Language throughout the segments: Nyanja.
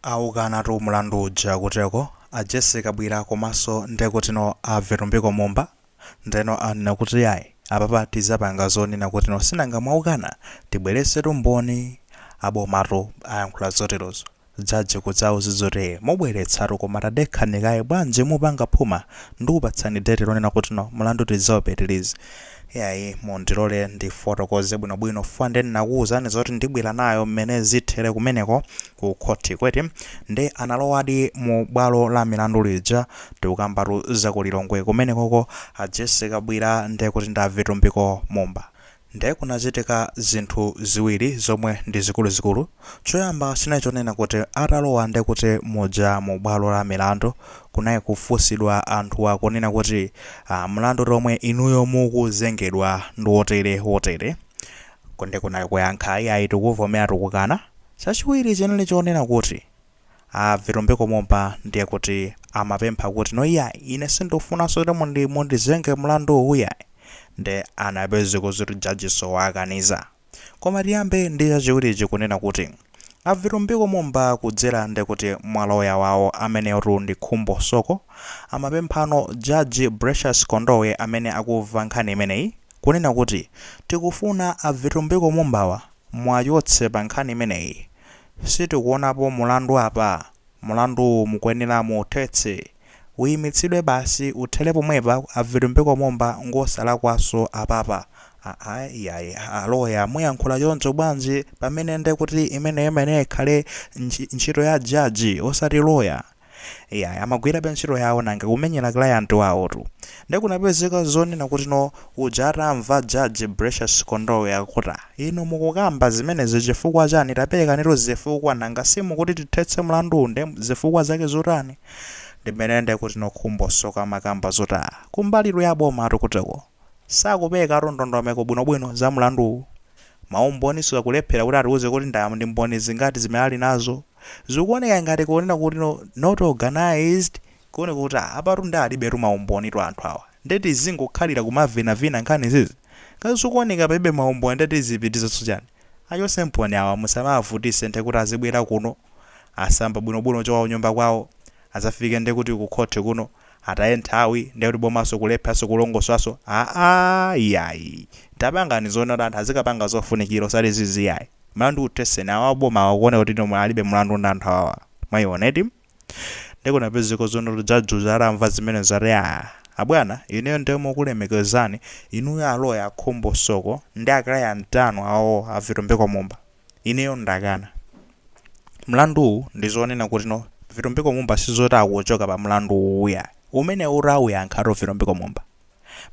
Aukanatu mulandu uja kuteko a Jessie Kabwira komaso ndekut no a Vitumbiko Mumba ndeno anena kuti yayi apapa tizapanga zonena kuti no sinanga mwaukana tibweretsetu mboni abomatu ayankhula zoterozo judge kudzawauza zoti ee mubweretsatu koma tadekhani kaye bwanji mupanga phuma ndikupatsani date lonena kuti no mulandu tizaupitirize Iyayi mundilole ndifotokoze bwinobwino fukwa nde ndinakuwuzani zoti ndibwera nayo mmene zithere kumeneko ku khotiko eti. Nde analowadi mu bwalo la milandu lija. Tikukambatu za ku Lilongwe kumenekoko. A Jessie Kabwira nde kuti ndi a Vitumbiko Mumba. Nde kunachitika zinthu ziwiri zomwe ndi zikuluzikulu. Choyamba chinali chonena kuti atalowa nde kuti muja mu bwalo la milandu Kunali kufunsidwa anthuwa kunena kuti ah mlandutu omwe inuyo mukuzengedwa ndiwotere wotere Ku nde kunali kuyankha iyayi tikuvomera tikukana Chachiwiri chinali chonena kuti a Vitumbiko Mumba ndiye kuti amapempha kuti no iyayi ine sindufunaso kuti mundi mundizenge mlanduwu iyayi nde anapezeka zoti judgenso wawakaniza Koma tiyambe ndi chachiwiri ichi kunena kuti A Vitumbiko Mumba kudzera nde kuti mwa lawyer wawo ameneyotu ndi Khumbo Soko amapemphano Judge Bracious Kondowe amene akumva nkhani imeneyi kunena kuti tikufuna a Vitumbiko Mumbawa muwachotse pa nkhani imeneyi sitikuwonapo mulandu apa Mulandu mukuyenera muuthetse. Uyimitsidwe basi, uthere pomwepa, a Vitumbiko Mumba ngosalakwanso apapa. Aa iyayi a Loya muyankhula choncho bwanji pamene nde kuti imeneyo imayenera ikhale ntchito ya Judge osati Loya. Iyayi amagwirabe ntchito yawo nanga kumenyera client wawotu. Nde kunapezeka zonena kuti no uja atamva judge Bracious Kondowe akuti ah inu mukukamba zimenezi chifukwa chani tapelekanitu zifukwa nanga simukuti tithetse mlanduwu nde zifukwa zake zotani ndi mmene ndekut no Khumbo Soko amakamba zoti ah kumbalitu ya bomayo kuteko sakuperekatu ndondomeko bwino bwino za mlanduwu ma umboninso akulephela kuti atiuze kuti nda ndi mboni zingati zimene ali nazo zikuoneka ngati kunena kuti no not organized Kuoneka kuti aa apatu nde alibetu maumbonitu anthu awa. Nde tizingokhalira kumavinavina nkhani izizi? Ngati zikuoneka palibe maumboni nde tizipitirizanso chani? Achoseni boni awa musamawavutise nde kuti azibwera kuno, asamba bwinobwino kuchoka kunyumba kwawo, azafike nde kuti ku khoti kuno, ataye nthawi nde kuti bomanso kulepheranso kulongosolanso aah iyayi tapangani zonena kuti anthu azikapanga zofunikira osati izizi iyayi. Mlandu utheseni awa abomawa kuoneka kuti no mwe alibe mlandu ndi anthu awawa. Mwaiona eti? nde kunapezeka zonoti judge atamva zimenezo ati aa abwana ineyo nde mokulemekezani inuyo aloya akhumbo soko ndi aclient anu awo a vitumbiko mumba ineyo ndakana mlanduwu ndi zonena kuti no vitumbiko mumba sizoti akuchoka pa mlandu uwu yayi umenewu utawuyankhatu vitumbiko mumba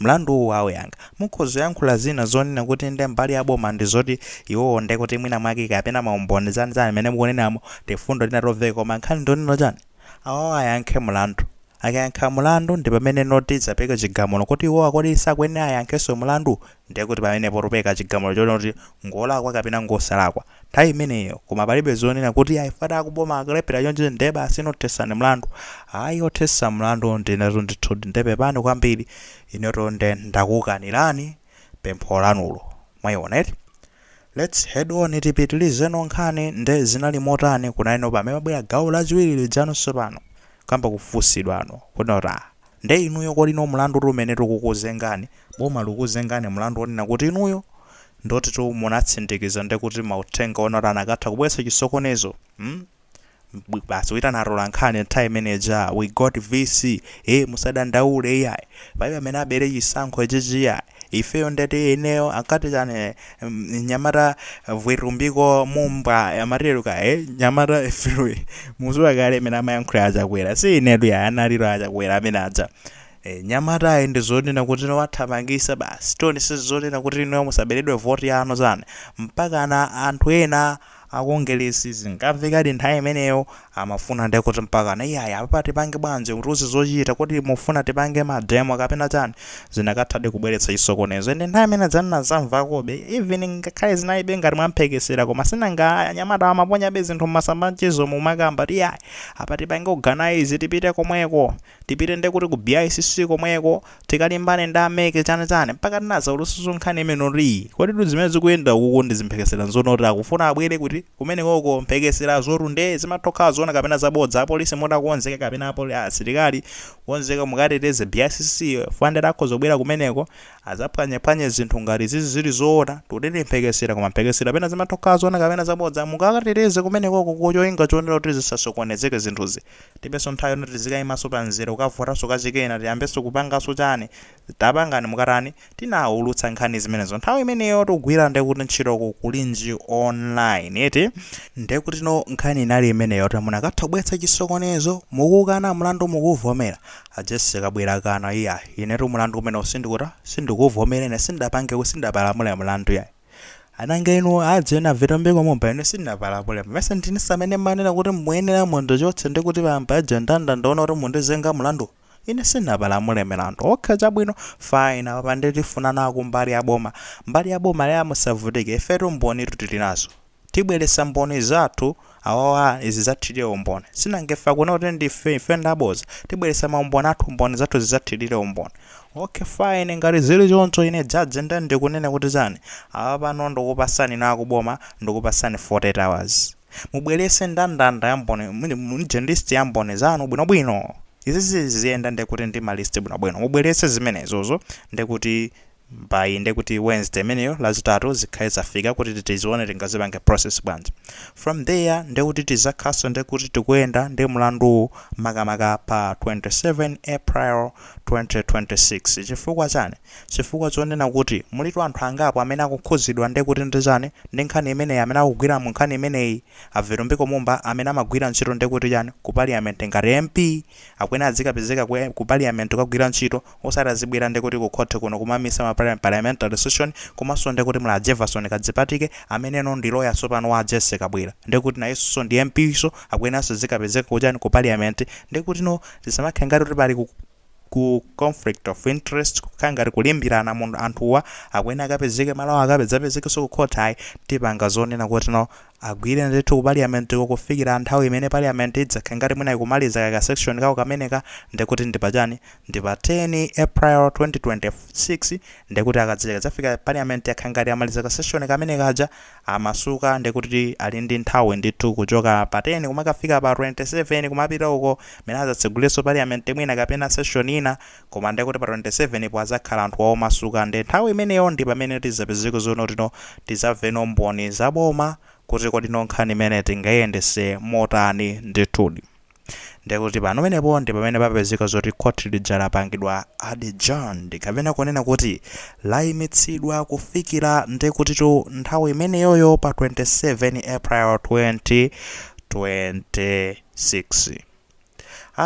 Mlandu uwu auyankha. Mukhoza kuyankhula zina zonena kuti nde mbali ya boma ndi zoti iwowo nde kuti mwina mwake kapena maumboni zani zani mmene mukunenamo, tifundo tina tomveka koma nkhani ndi yonena chani? Awawa ayankhe mlandu. Akayankha mlandu ndi pamene no tidzapereke chigamulo kuti iwowa kodi sakuyenera ayankhenso mlandu? Ndiye kuti pamenepo tipereka chigamulo chonena kuti ngolakwa kapena ngosalakwa nthawi imeneyo koma palibe zonena kuti ayi fada akuboma akalephera choncho ndiye basi inu thesani mlandu ayi othesa mlandu ndinetu ndithudi ndiye pepani kwambiri inetu nde ndakukanirani pempho lanulo mwaiona eti lets head on tipitirizeno nkhani nde zinali motani kunali no pamene pamabwera gawo lachiwiri lija no tsopano kuyamba kufunsidwano kunena kuti ah Nde inuyo kodi no mlandu uti umene tikukuzengani? Boma likukuzengani mlandu wonena kuti inuyo ndiotitu munatsindikiza ndekuti mauthenga onoti anakatha kubweretsa chisokonezo mm basi kuitana atolankhani nthawi imene ija we got VC ee musadandaule iyayi palibe amene abere chisankho ichichi iyayi. Ifeyo ndati ineyo ankati chani eh, mm, nyamata Vitumbiko Mumba amatiruka eh, nyamata vwe- muziwa kale amene amayankhula a Chakwera si inetu yayi analiro a Chakwera amene aja Eh, nyamata ayi ndi zonena kuti no wathamangisa basi toni si zonena kuti inuyo musaberedwe voti yanu zani mpaka na anthu ena a Kongeresi zinkamvekadi nthawi imeneyo amafuna nde kuti mpakana iyayi apapa tipange bwanji mutiuze zochita kodi mufuna tipange ma demo kapena chani zinakathadi kubweretsa chisokonezo ende nthawi imene ija ndinazamvakobe even ngakhale zinalibe ngati mwamphekesera koma sinanga anyamata amaponyabe zinthu mmasamba amchezo mumakamba kuti iyayi apa tipange organise tipite komweko tipite nde kuti ku BICC komweko Tikalimbane ndi a mec chani chani mpaka tinazaulutsanso nkhani imeneyo kuti kodi zimene zikuyenda ukuku ndi zimphekesela nzonoti akufuna abwele kuti kumenekoko mphekeselazotu nde zimatha kukhala zoona kapena zabodza apolisi mutha kukonzeka kapena apoli asilikali kukonzeka mukateteze BICC fandela akhoza kubwela kumeneko azaphwanyephwanye zinthu ngati izizi zili zoona tikuti ndi mphekesela koma mphekesela pena zimatha kukhala zoona kapena zabodza mukawateteze kumenekoko cholinga chonena kuti zisasokonezeke zinthuzi Tilibenso nthawi yoti tizikaimanso pa mzere kukavotanso kachikena, tiyambenso kupanganso chani? Tapangani mukatani? Tinaulutsa nkhani zimenezo nthawi imeneyotu kugwira ndekuti ntchito ku Kulinji online eti? Ndekutino nkhani inali imeneyotu munakatha kubweretsa chisokonezo, mukukana mlandu mukuuvomera? A Jessie Kabwila akana, iyayi, inetu mlandu umenewu sindikuta, sindikuuvomera ine sindidapange, sindidapalamule mlandu iyayi. ananga inu adzena Vitumbiko Mumba ine sindinapalamule mesa ndinu amene mmanena kuti muyenera mundichotse ndi kuti paja ndandaona kuti mundizenga mlandu ine sindinapalamule milandu okha chabwino fine apa nditifunanako mbali ya boma mbali ya boma lawyer musavutike ifetu mbonitu tili nazo Tibwelesa mboni zathu awawa zizathilire umboni sinanga ife akuneni kuti ndife ife ndaboza tibwelesa maumboni athu mboni zathu zizathilire umboni ok fine ngati zili choncho ine judge nde ndikunena kuti chani apapano ndikupasani inu akuboma ndikupasani 48 hours mubwelese ndandanda ya mboni muja list ya mboni zanu bwino bwino izizi ziziyenda ndekuti ndi ma list bwino bwino mubwelese zimenezozo ndekuti By kuti Wednesday imeneyo lazitatu zikhale zafika kuti tizione tingazipange process bwanji. From there nde kuti tizakhalaso nde kuti tikuyenda ndi mlanduwu makamaka pa 27 April 2026 chifukwa chani? Chifukwa chonena kuti mulitu anthu angapo amene akukhuzidwa nde kuti ndi chani ndi nkhani imeneyi amene akugwira mu nkhani imeneyi a Vitumbiko Mumba amene amagwira ntchito nde kuti chani ku parliament ngati MP akuyenera azikapezeka ku parliament kukagwira ntchito osati azibwera ndekuti ku court kuno kumamisa ma parliamentary session komanso ndekuti muli a Jeverson Kadzipatike amene ndi lawyer tsopano wa a Jessie Kabwila ndekuti nayenso ndi MP so akuyeneranso azikapezeka ku chani ku parliament ndekuti no zisamakhale ngati kuti pali ku conflict of interest kukhala ngati kulimbirana munthu anthuwa akuyenera akapezeke malo awo akapezapezekenso ku court ayi tipanga zonena kuti no agwire ndithu ku parliament ko kufikira nthawi imene parliament idzakhale ngati mwina ikumaliza kaya ka session kawo kameneka ndekuti ndi pa chani ndi pa 10 April 2026 ndekuti akadzakadzafika parliament yakhala ngati amaliza ka session kamene kaja amasuka ndekuti ali ndi nthawi ndithu kuchoka pa 10 kumakafika pa 27 kumapita uko mene adzatseguleso parliament mwina kapena session ina koma ndekuti pa 27 po adzakhala anthuwa omasuka nde nthawi imeneyo ndi pamene tidzapezeko zoti no tidzamveno mboni za boma kuti kodi no nkhani imeneyi tingayiyendese motani ndithudi. Ndiye kuti panomenepo ndi pamene papezeka zoti khoti lija lapangidwa adjourned kapena kunena kuti layimitsidwa kufikira ndiye kutitu nthawi imeneyoyo pa 27 April 2026.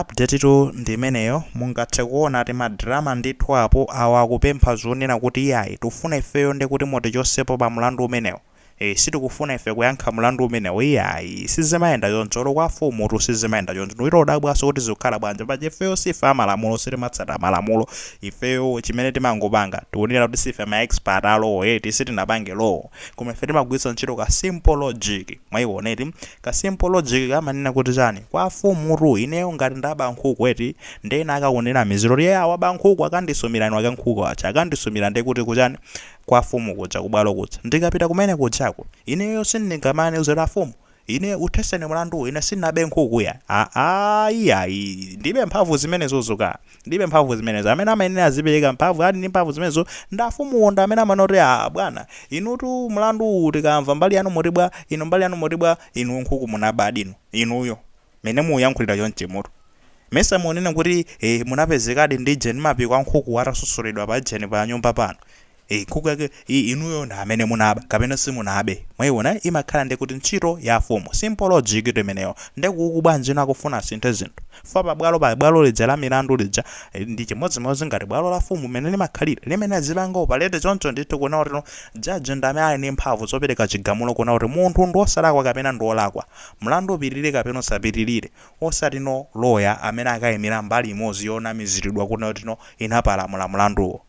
Update tu ndi imeneyo mungathe kuona ati madrama ndithu apo awa akupempha zonena kuti iyayi tufuna ifeyo ndiye kuti mutichosepo pa mlandu umenewu. Eee sitikufuna ife kuyankha mlandu umenewo iyayi sizimayenda choncho olo kwa mfumutu sizimayenda choncho ndiye ukudabwanso kuti zikukhala bwanji paja ifeyo siife amalamulo sitimatsata malamulo ifeyo chimene timangopanga tikunena kuti siife ma expert a law eti sitinapange law koma ife timagwiritsa ntchito ka simple logic mwayiona eti ka simple logic komanena kuti chani kwa mfumutu ineyo ngati ndaba nkhuku eti ndiye ena akandinamizira kuti eya waba nkhuku akandisumira eni ake a nkhuku aja akandisumira ndiye kuti kuchani kwa afumu kuja, kubwalo kuja. Ndikapita kumene kujako, ineyo sindingamawauze kuti afumu, ine uthetseni mlanduwu, ine sindinabe nkhuku ya. Aaa iyayi, ndilibe mphamvu zimenezozo ka. Ndilibe mphamvu zimenezo. Amene amayenera azipereka mphamvu, ali ndi mphamvu zimenezo, ndi afumuwo ndi amene amanena kuti aa bwana, inutu mlandu uwu tikamva mbali yanu muti bwa, inu mbali yanu muti bwa, inuyo nkhuku munabadi inu, inuyo. Mene mukuyankhulira chonchimutu mesa mukunena kuti eh munapezekadi ndi jeni mapiko a nkhuku atasosoledwa pa jeni pa nyumba panu eh nkhuku yake i- inuyo ndi amene munaba kapena simunabe mwaiona imakhala nde kuti ntchito ya afumu simple logic tu imeneyo nde kuku bwanji inu akufuna asinthe zinthu fa pabwalo pa bwalo lija la milandu lija eh, ndi chimodzimodzi ngati bwalo la fumu mene limakhalira limene zilanga operate choncho ndithu kunena kuti no jaji ndi amene ali ndi mphamvu zopereka chigamulo kunena kuti munthu ndi wosalakwa kapena ndi wolakwa Mlandu upitirire kapena usapitirire, osati no loya amene akaimira mbali imodzi yonamiziridwa kuti no no inapalamula mlanduwo.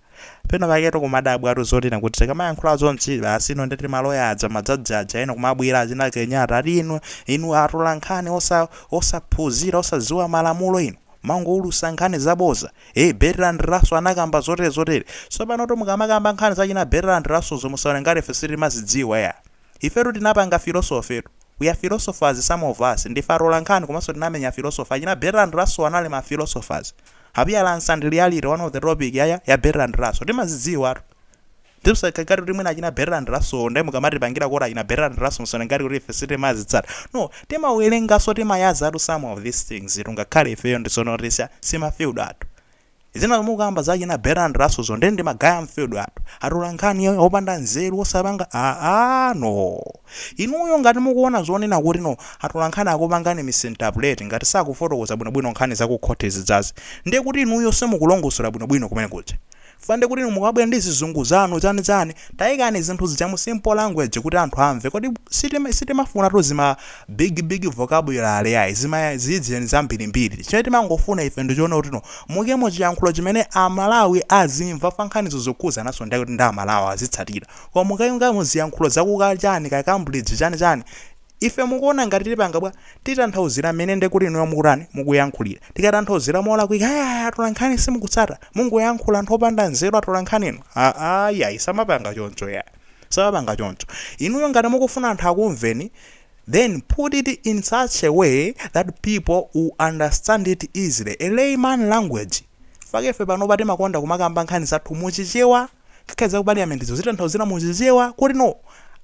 Penapaketu kumadabwatu zoti no kuti tikamayankhula zonchi basi no nde kuti maloya aja majaji aja ena kumabwera achina Kenyatta ati inu inu atolankhani osa osaphunzira osadziwa malamulo inu mangoulusa nkhani zaboza ee Bertrand Russell anakamba zotere zotere. Tsopanotu mukamakamba nkhani zachina Bertrand Russellzo musaone ngati ife sitimazidziwa yaa. Ifetu tinapanga philosophytu, we are philosophers some of us, ndife atolankhani komanso tinamenya philosophy, achina Bertrand Russell anali ma philosophers, Appearance and Reality one of the topic ya ya ya Bertrand Russell timazidziwatu, nde musatenge ngati kuti mwina achina Bertrand Russell nde mukamatipangira quote achina Bertrand Russell musaone ngati kuti ife sitimazitsata, no timawerenganso timayazatu some of these things'tu ngakhale ifeyo ndi zoona kuti si ma field athu. Zina zomwe mukukamba za achina Bertrand Russell zo nde ndi ma guy a m'field yathu. Atolankhani opanda nzeru osapanga aah no. Inuyo ngati mukuona zonena kuti no atolankhani akupangani misinterpret ngati sakufotokoza bwino bwino nkhani za ku court zijazi nde kuti inuyo simukulongosola bwino bwino kumene kuja. Chifukwa nde kuti inu mukabwera ndi zizungu zanu zani zani. Taikani zinthu zija mu simple language kuti anthu amve. Kodi sitima sitimafuna tu zima Big big vocabulary ayi zima zijeni zambirimbiri chimene timangofuna ife ndi chonena kuti no muyikemo chiyankhulo chimene a Malawi azimva fa nkhanizo zokhuzananso nde kuti ndi a Malawi azitsatira koma mukayikamo ziyankhulo za ku ka chani ka Cambridge chani chani ife mukuwona ngati tipanga bwa? Titanthauzira mmene nde kuti inuyo mukutani mukuyankhulira tikatanthauzira molakwika ayaya atolankhani simukutsata mungoyankhula anthu opanda nzeru atolankhani inu aa iyayi samapanga choncho iyayi. Samapanga choncho. Inuyo ngati mukufuna anthu akumveni then put it in such a way that people will understand it easily, a layman language. Mpake ife panopa timakonda kumakamba nkhani zathu mu Chichewa, ngakhale za ku parliament zija kuzitanthauzira mu Chichewa kuti no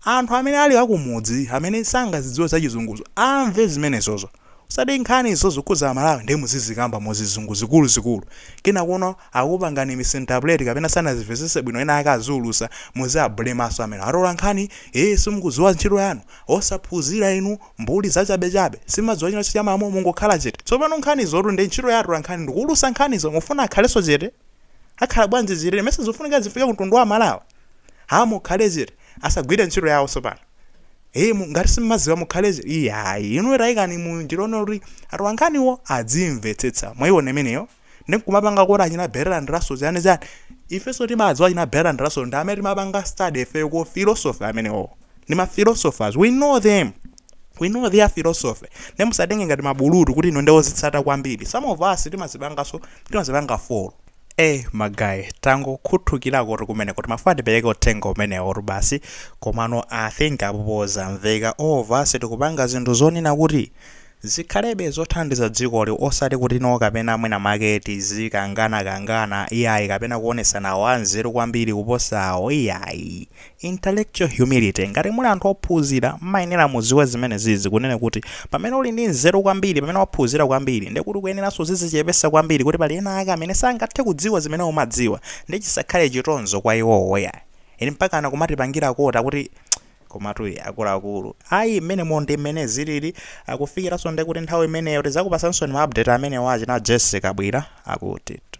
anthu amene ali akumudzi amene sangazidziwe za chizunguzo amve zimenezozo. Osati nkhani zokhuza amalawi ndiye muzizikamba muzizungu zikulu zikulu kinakuno akupangani misinterpret kapena sanazivesese bwino ena ake akaziulusa muziwablemanso amene atolankhani ee simukuziwa ntchito yanu osaphunzira inu mbuli zachabechabe simadziwa chilichonse cha malamulo mungokhala chete tsopano nkhanizotu ndiye ntchito ya atolankhani ndikuulusa nkhanizo mufuna akhalenso chete akhala bwanji chete mesa zikufunika zifike kumtundu wa amalawi haa mukhale chete asagwile ntchito yawo tsopano. Eee mu- ngati simmaziwa mukhale iyayi inu taikani mu ndirone kuti atolankhaniwo adzimvetsetsa mwayiona imeneyo ndiye nkumapanga kuti achina Bertrand Russell chani chani ifenso timadziwa achina Bertrand Russell ndi amene timapanga study ifeyo ku philosophy amenewo ndi ma philosophers we know them we know their philosophy ndiye musatenge ngati mabulutu kuti inu ndi ozitsata kwambiri some of us timazipanganso timazipanga follow ee ma guy tangokhuthulirakotu kumeneko timafuna tipereke uthenga umenewotu basi komano i think apopo zamveka all of us tikupanga zinthu zonena kuti zikhalebe zothandiza dzikoli osati kuti no kapena mwina make tizikanganakangana iyayi kapena kuonesana awo anzeru kwambiri kuposa awo iyayi Intellectual humility, Ngati muli anthu ophunzira, mmayenera mudziwe zimenezizi, kunena kuti, pamene uli ndi nzeru kwambiri, pamene waphunzira kwambiri, ndiye kuti ukuyeneranso uzidzichepetsa kwambiri kuti pali ena ake amene sangathe kudziwa zimene umadziwa, ndiye chisakhale chitonzo kwa iwowo yayi. Ine mpakana kumatipangira quote kuti komatu ee akuluakulu, ayi mmenemo ndiye mmene zilili, akufikiranso ndiye kuti nthawi imeneyo tidzakupatsaninso ma update amenewo achina Jessie Kabwira akutitu.